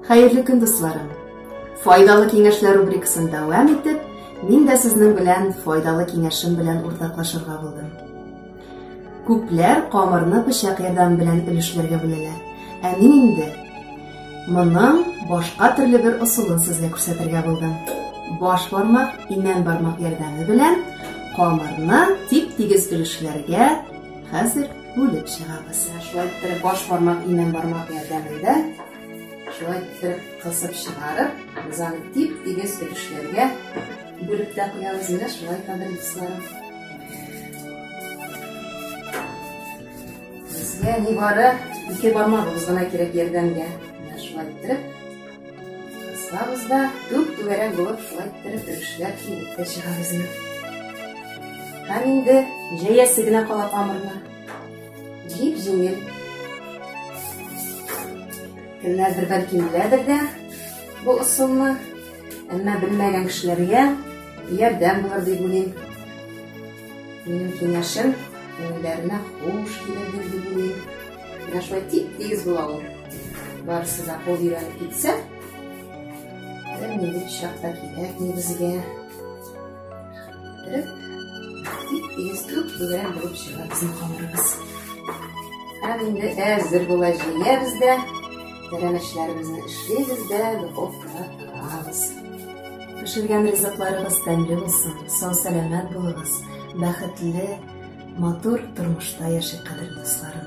Хәерле көн, дусларым! Файдалы киңәшләр рубрикасын дәвам итеп, мин дә сезнең белән файдалы киңәшем белән уртаклашырга булдым. Күпләр камырны пычак ярдәме белән өлешләргә бүләләр. Ә мин инде моның башка төрле бер ысулын сезгә күрсәтергә булдым. Баш бармак, имән бармак ярдәме белән камырны тип-тигез өлешләргә хәзер бүлеп чыгабыз. Шулай иттереп баш бармак, имән бармак ярдәмендә шулай иттереп кысып чыгарып, бизаны тип-тигез өлешләргә бүлеп тә куябыз инде шулай кадәр дусларым. Безгә нибары ике бармагыбыз гына кирәк ярдәмгә. Менә шулай иттереп Кысабыз да, түк түгәрәк булып шулай иттереп өрүшләр килеп тә чыга безне. Һәм инде җәясе генә кала камырны. Җип җиңел. Кемнәрдер бәлки беләдер дә бу ысулны, әмма белмәгән кешеләргә ярдәм булыр дип уйлыйм. Минем киңәшем күңелләренә хуш килер дип уйлыйм. Менә шулай тип-тигез була ул. Барысы да кул өйрәнеп китсә, бер нинди пычрак та кирәкми безгә. Биреп, тип-тигез күк түгәрәк булып чыга безнең камырыбыз. Һәм инде әзер була җыябыз да, тәрәмәчләребезне эшлибез дә, духовкага тыгабыз. Пешергән ризыкларыгыз тәмле булсын, сау-сәламәт булыгыз, бәхетле, Матур тормышта яши кадерле дусларым.